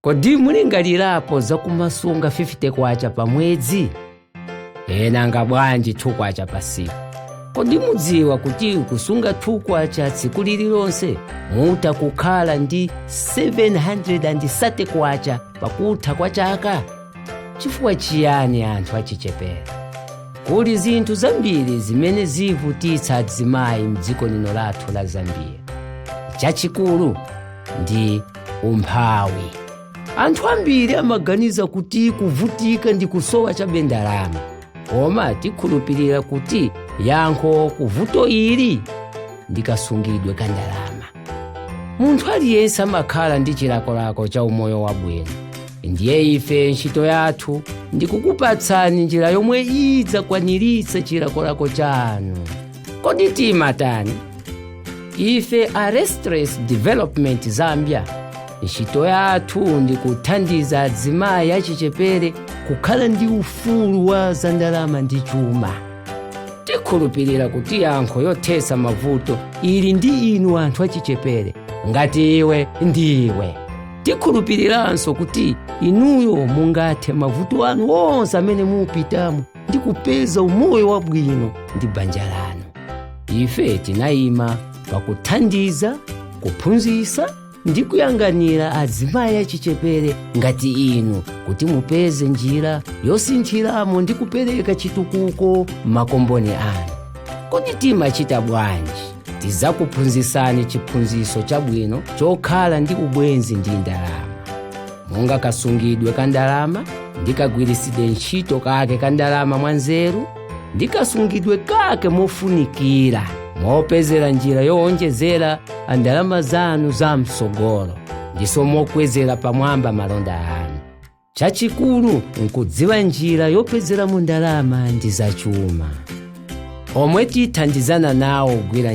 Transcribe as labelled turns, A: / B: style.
A: kodi mulingalirapo za kumasunga 50 kwacha pa mwezi nanga bwanji 2 kwacha pa siku kodi mudziwa kuti kusunga 2 kwacha tsiku lililonse mutha kukhala ndi 730 kwacha pakutha kwa chaka chifukwa chiyani anthu achichepere kuli zinthu zambiri zimene zivutitsa azimayi mdziko lino lathu la zambia chachikulu ndi umphawi anthu ambiri amaganiza kuti kuvutika ndi kusowa chabe ndalama koma tikhulupirira kuti yankho kuvuto ili ndi kasungidwe ka ndalama munthu aliyense amakhala ndi chilakolako cha umoyo wabwino ndiye ife ntchito yathu ndi kukupatsani njira yomwe idzakwaniritsa chilakolako chanu kodi timatani ife a restless development zambia ntchito yathu ndi kuthandiza azimayi achichepere kukhala ndi ufulu wa zandalama ndi chuma tikhulupirira kuti yankho yothetsa mavuto ili ndi inu anthu achichepere ngati iwe ndi iwe tikhulupiriranso kuti inuyo mungathe mavuto anu onse amene mupitamo ndi kupeza umoyo wabwino ndi banja lanu ife tinayima pakuthandiza kuphunzitsa ndi kuyang'anira azimayi achichepere ngati inu kuti mupeze njira yosinthiramo ndi kupereka chitukuko m'makomboni anu kodi timachita bwanji tizakuphunzitsani chiphunzitso chabwino chokhala ndi ubwenzi ndi ndalama monga kasungidwe ka ndalama ndi kagwiritsidwe ntchito kake ka ndalama mwanzeru ndi kasungidwe kake mofunikira mopezera njira yowonjezera ndalama zanu za msogolo ndiso mokwezera pamwamba malonda anu chachikulu nkudziwa njira yopezeramo ndalama ndi zachuma omwe tithandizana nawo kugwira